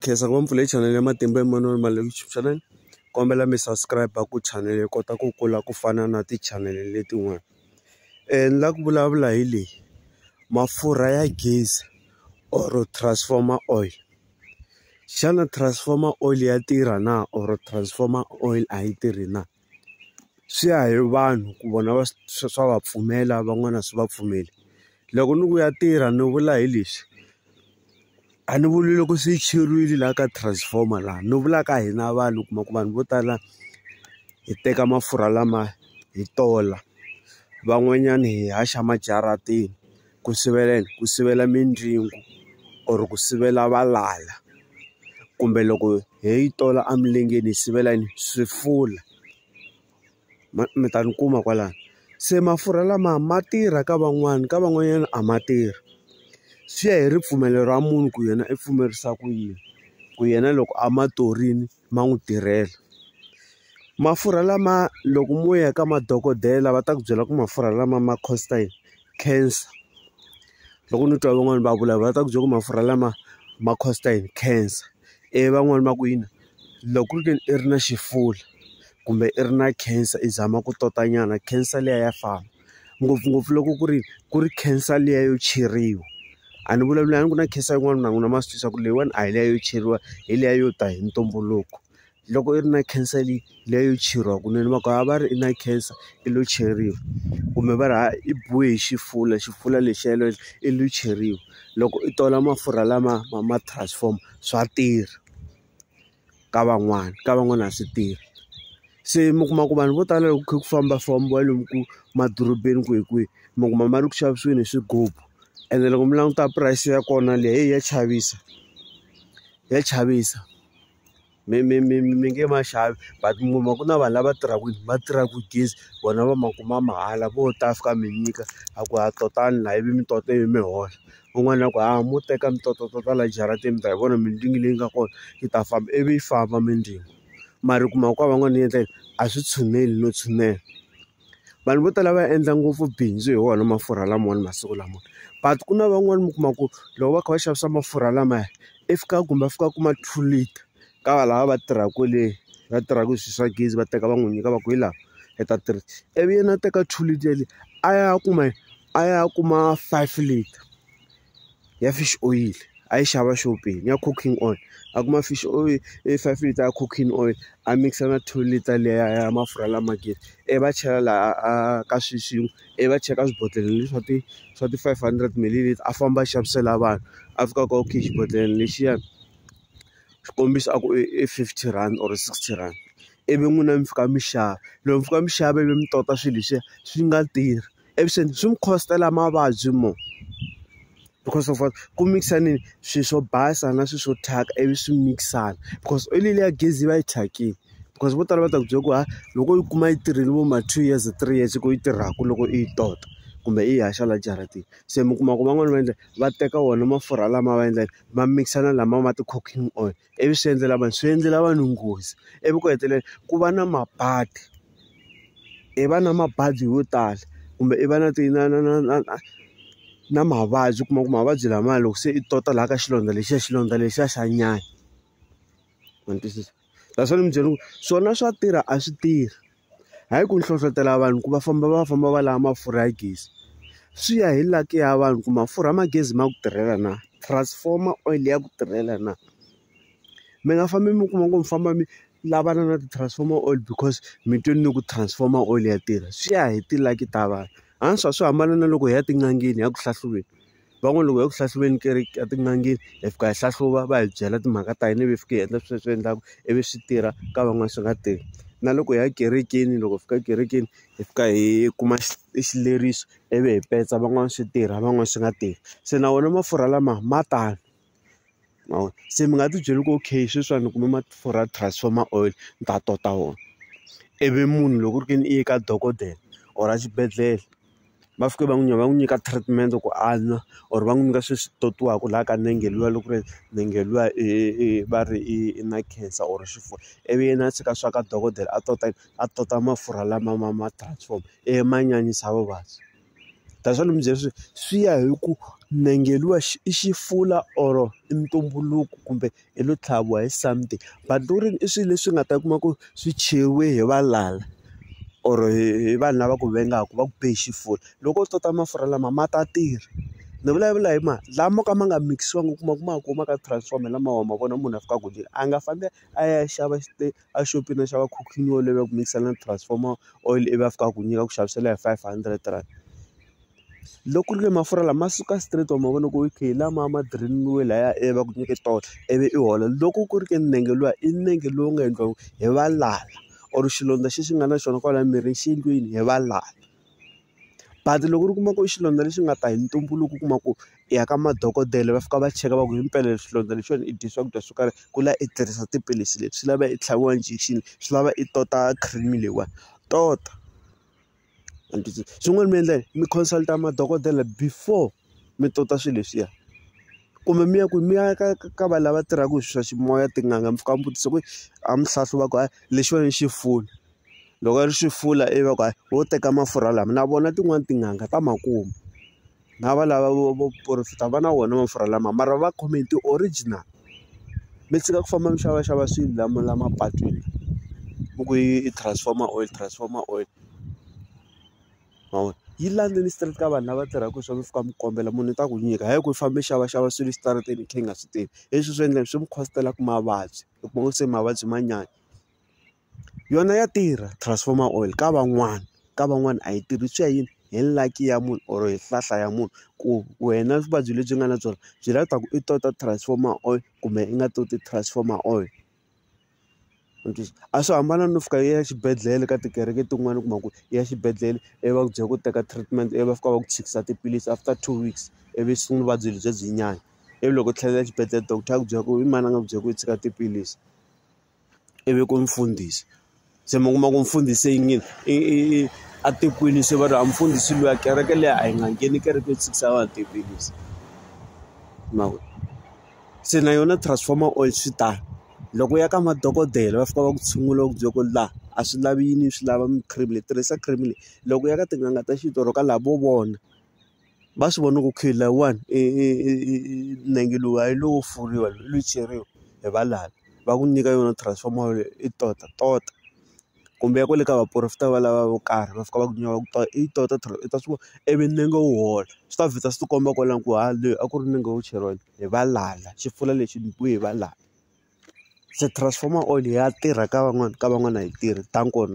khensa ngopfu leyi channel ya matimba Emmanuel Maleku YouTube channel kombela mi subscribe ku channel yi kota ku kula ku fana na ti-channel letin'wana um ni la ku vulavula hi leyi mafurha ya gezi or transformer oil xana transformer oil ya tirha na or transformer oil a yi tirhi na. swi ya hi vanhu ku vona va swa swa va pfumela van'wana a swi va pfumeli loko ni ku ya tirha ni vula hi leswi a ni vuli loko se yi cheriwile laha ka transformer laha ni vula ka hina vanhu u kuma ku vanhu vo tala hi teka mafurha lama hi tola van'wanyani hi haxa majarateni. ku sivela yini ku sivela mindyangu or ku sivela valala kumbe loko hi yi tola emilengeni hi sivela yini swifula ma mi ta ni kuma kwalano se mafurha lama ma tirha ka van'wani ka van'wanyana a ma tirhi swi ya hi ripfumelo ra munhu ku yena i pfumerisa ku yini ku yena loko a ma torini ma n'wi tirhela mafurha lama loko mo ya ka madokodela va ta ku byela ku mafurha lama ma cost-a yini. cancer loko ni twa van'wani va vulavula va ta ku byela ku mafurha lama ma cost-a yini cancer ivi van'wani va ku yini loko ku ri ke ni i ri na xifula kumbe i ri na cancer i zama ku tota nyana cancer liya ya famba ngopfungopfu loko ku ri ku ri cancer liya yo cheriwa a ni vulavuli a ni ku na cancer yin'wana na n'wina ma swi tiva ku leyiwani a hi liya yo cheriwa hi liya yo ta hi ntumbuluko. loko i ri na cancer leyi liya yo cheriwa kunene va ku a va ri i na cancer i lo cheriwa kumbe va ri ha i biwe hi xifula xifula lexiya i lo cheriwa loko i tola mafurha lama ma ma transform swa tirha ka van'wana ka van'wana a swi tirhi se mi kuma ku vanhu vo tala loko kha ku fambafambiwa lomu ku madorobeni kwihi kwihi mi kuma ma ri ku xavisiweni hi swigubu ene loko mi languta price ya kona leyi ya chavisa ya chavisa. mi mi mi mi nge ma xavi but mi kuma ku na vanhu lava tirhaka va tirhaka gezi vona va ma kuma mahala vo ta fika mi nyika a ku ha totani la ivi mi tota ivi mi hola un'wana a ku hayi mo teka mi tota tota la jarateni mi ta hi vona mindzingi leyi nga kona yi ta famba ivi yi famba mindzilo mara u kuma ku ka van'wana yi endla yini a swi tshineli no tshinela. vanhu vo tala va endla ngopfu bindzu hi wona mafurha lamawani masiku lama but ku na van'wani mi kuma ku loko va kha va xavisa mafurha lamaya i fika kumbe a fika a kuma two litre ka va lava va tirhaka kwale va tirhaka hi swi swa gezi va teka va n'wi nyika va ku hi laha i ta three ivi yena a teka two litre yaleyo a ya kuma a ya kuma five litre. ya fish oil a yi xava xopeni ya cooking oil a kuma fish oil i five liter ya cooking oil a mikisa na two liter liya ya mafurha lama gezi ivi va chela laha a ka swilo swin'we ivi va chela ka swibodhlele leswi swa ti swa ti five hundred mililiter a famba a xavisela vanhu a fika a ku okay xibodhlele lexiyani xikombiso a ku i fifty rand or sixty rand ivi n'wina mi fika mi xava loko mi fika mi xava ivi mi tota swilo leswiya swi nga tirhi. avuxeni swi mi cost-ela mavabyi mo because of what ku mix-anini swilo swo basa na swilo swo thyaka ivi swi mix-ana because oyili liya gezi yi va yi thyakile because vo tala va ta ku byela ku ha loko yi kuma yi tirhile vo ma two years three years ku yi tirhaka loko i yi tota kumbe i yi haxa laha jaratini se mi kuma ku van'wani va endla va teka wona mafurha lama va endlaka ma mix-ana lama ma ti-cooking oil ivi swi endlela vanhu swi endlela vanhu nghozi ivi ku hetelela ku va na mabadi. i va na mabadi yo tala kumbe i va na ti na na na na na na mavabyi u kuma ku mavabyi lamaya loko se i tota laha ka xilondza lexiya xilondza lexiya xa nyanya ma ni twisisa that's why ni mi byela ku swona swa tirha a swi tirhi hayi ku hlohlotelo vanhu ku va famba va famba va lava mafurha ya gezi swi ya hi luck ya vanhu ku mafurha ma gezi ma ku tirhela na transformer oil ya ku tirhela na. mi nga fambi mi kuma ku mi famba mi lavana na ti-transformer oil because mi twini ni ku transformer oil ya tirha swi ya hi ti-lucky ta vanhu swa swi hambana na loko hi ya etin'angeni hi ya ku hlahluveni van'wani loko hi ya ku hlahluveni ka etin'angeni hi fika hi hlahluva va hi byela timhaka ta hina ivi hi fika hi endla swilo leswi endlaka ivi swi tirha ka van'wani swi nga tirhi na loko hi ya ekerekeni loko hi fika ekerekeni hi fika hi kuma xileriso ivi hi petsa van'wani swi tirha van'wani swi nga tirhi se na wona mafurha lama ma tano. ma vo se mi nga ti byeli ku okay sweswiwani ni kume mafurha ya transformer oil ni ta tota wona ivi munhu loko ku ri ke ni i ye ka dokodela or a xibedhlele va fike va n'wi va n'wi nyika treatment ku a nwa or va n'wi nyika sweswi totiwaku laha ka nenge luya loko ku ri nenge luya i i va ri i i na cancer or xifuva ivi yena a tshika swa ka dokodela a tota a tota mafurha lama ma ma transform ivi ma nyanyisa vuvabyi. Ta swa ni mi byela swi swi ya hi ku nenge luwa i xifula or i ntumbuluko kumbe i lo tlhaviwa hi something but loko ku ri i swilo leswi nga ta kuma ku swi cheriwe hi valala or hi vanhu lava ku vengaka va ku be hi xifula loko u tota mafurha lama ma ta tirha ni vulavula hi ma lama mo ka ma nga mikisiwanga u kuma ku ma kuma ka transform hi lama wa ma vona munhu a fikaka a nga fambi a ya xava xi . a xopeni a xava cooking oil ivi a ku mikisela na transformer oil ivi a fika a ku nyika a ku xavisela hi five hundred rand loko ku ri ke mafurha lama suka straight wa ma vona ku okay hi lama ma direniwe laya ivi va ku nyike tona ivi i hola loko ku ri ke ni nenge luwa i nenge lowu nga endliwa hi valala or xilondza xexi nga na xona kwalaya mirini xi endliwini hi valala. But loko u kuma ku i xilondza lexi nga ta hi ntumbuluko u kuma ku i ya ka madokodela va fika va cheka va ku hi mpela xilondza lexiwani i dye swakudya swo karhi ku la i tirhisa tiphilisi leti swi lava i tlhaviwa injection swi lava i tota cream leyiwani tota xin'wana mi endla yini mi consult madokodela before mi tota swilo leswiya kumbe mi ya ku mi ya ka ka va lava tirhaka hi swa ximoya tin'anga mi fika mi vutisa ku a mi hlahluva ku lexiwani xi foni loko ri swi fula i va ku hayi wo teka mafurha lama na vona tin'wani tin'anga ta ma kuma na va lava vo vo profit-a va na wona mafurha lama mara va khome hi ti-original mi tshika ku famba mi xavaxava swilo lama la mapatwini mi ku i transformer oil transformer oil ma vona yi landzeni straight ka vanhu lava tirhaka hi swona mi fika mi kombela munhu i ta ku nyika hayi ku i fambe i xavaxava swilo exitarateni i kha i nga swi tivi leswi swi endla swi mi cost-ela mavabyi u kuma ku se mavabyi ma nyanya. yona ya tirha transformer oil ka van'wana ka van'wana a yi tirhi swi ya hi hi lucky ya munhu or hi hlahla ya munhu ku wena vuvabyi lebyi nga na byona byi lava ku i tota transformer oil kumbe i nga toti transformer oil a swi hambana no fika i ya exibedhlele ka tikereke tin'wani u kuma ku i ya xibedhlele ivi va ku byela ku teka treatment ivi va fika va ku tshikisa tiphilisi after two weeks ivi swi sungula vuvabyi lebyiya byi nyanya ivi loko u tlhelela exibedhlele doctor a ku byela ku i mani a nga ku byela ku i tshika tiphilisi. i vi ku mfundhisi se mi kuma ku mfundhisi i yini i i atekwini se va ri a mfundhisi luya kereke leyi a yi nga ngheni kereke yo tshikisa va atekwinisi ma vona se na yona transformer oil swi tano loko u ya ka madokodela va fika va ku tshungula ku byela ku laha a swi lavi yini swi lava mi cream leyi tirhisa cream leyi loko u ya ka tin'anga ta xintu or ka lavo vona va swi vona ku okay layiwani i i i i i nenge lowu a yi lowo furiwa lowu i lowo ceriwa hi valala va ku nyika yona transformer yaleyo i tota tota kumbe ya kwale ka vaporofeta va lava vo karhi va fika va ku nyuwa va ku i yi tota i ta swi vona i vi nenge wu hola swi ta vheta swi ti komba kwalano ku ha le a ku ri nenge wo cheriwa hi valala xi pfula lexi nyikiwe hi valala se transformer oil ya tirha ka van'wani ka van'wani a yi tirhi than kona.